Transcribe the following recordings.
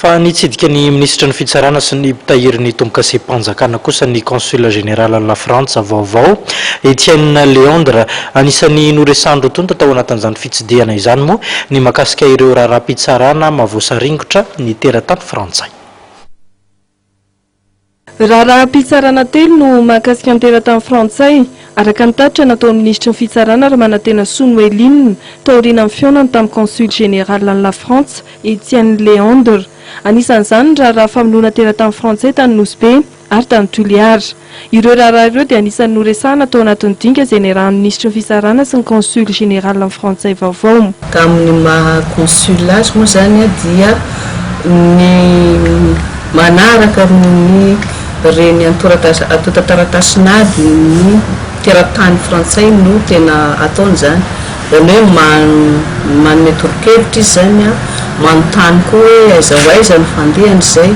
Fa nitsidika ny minisitry ny Fitsarana sy ny mpitahiry ny tombokasempanjakana kosa ny Consul Général an'i Lafrantsa vaovao, Etienne Léandre. Anisan'ny noresahan'ireo tonta tao anatin'izany fitsidihana izany moa ny makasika ireo raharaham-pitsarana mavoasaringotra ny teratany frantsay. Raharaham-pitsarana telo no mahakasika ny teratany frantsay, araka ny tatitra nataon'ny minisitry ny Fitsarana ary manantena soa ny Welin, taorianan'ny fihaonany tamin'ny Consul Général an'i Lafrantsa, Etienne Léandre. Anisan'izany ny raharaha famonoana teratany frantsay tany Nosy Be ary tany Toliara. Ireo raharaha ireo dia anisan'ny noresahana tao anatin'ny dinika izay niarahan'ny Minisitry ny Fisarahana sy ny Consul Général amin'ny Frantsay vaovao. Tamin'ny maha Consul azy moa izany dia ny manaraka ny reny antontan-taratasy nady ny teratany frantsay no tena ataony izany. Izany hoe man, manome tolo-kevitra izy izany an, manontany koa hoe aiza ho aiza no fandehany izay,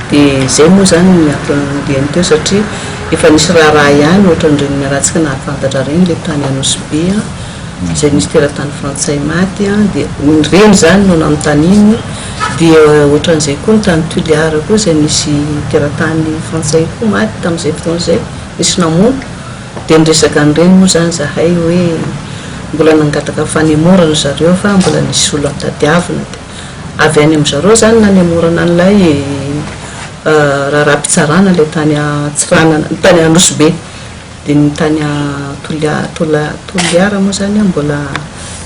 dia izay moa izany ny antony nandeany teo satria efa nisy raharaha ihany ohatran'ireny mialantsika nahafantatra ireny ilay tany Anosy Be an, izay nisy teratany frantsay maty an, dia ireny izany no nanontaniany, dia ohatran'izay koa ny tany Tuliar koa izay nisy teratany frantsay koa maty tamin'izay fotoana izay, nisy namono. Dia niresaka an'ireny moa izany izahay hoe mbola nangataka fanemora ry zareo fa mbola nisy olona tadiavina dia avy any amin-dry zareo izany nanemorana an'ilay raharaham-pitsarana ilay tany Antsiranana, tany Anosibe. Dia ny tany Toliara moa izany mbola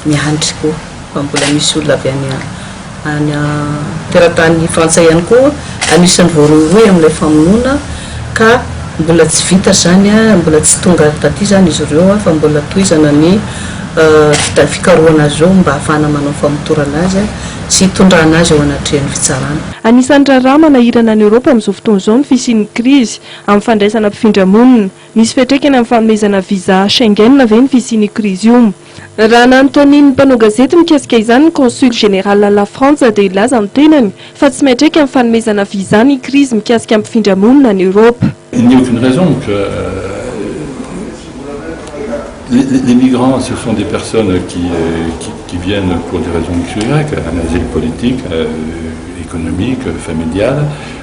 miandry koa. fa mbola misy olona avy any any teratany frantsay ihany koa anisan'ny voarohirohy amin'ilay famonoana ka mbola tsy vita izany mbola tsy tonga taty izany izy ireo fa mbola tohizana ny fikarohana azy ireo mba hahafahana manao famotorana azy sy hitondrana azy eo anatrehan'ny fitsarana. Anisan'ny raharaha manahirana an'i Eoropa amin'izao fotoana izao ny fisian'ny krizy amin'ny fandraisana mpifindra monina. Misy fiantraikany amin'ny fanomezana visa Schengen ve ny fisian'io krizy io? Raha nanontanian'ny mpanao gazety mikasika izany ny Consul Général La Frantsa dia nilaza ny tenany fa tsy miantraika amin'ny fanomezana visa ny krizy mikasika ny mpifindra monina any Eoropa. Il n'y a aucune raison que les migrants ce sont des personnes qui qui viennent pour des raisons de asile politique, économique, familial.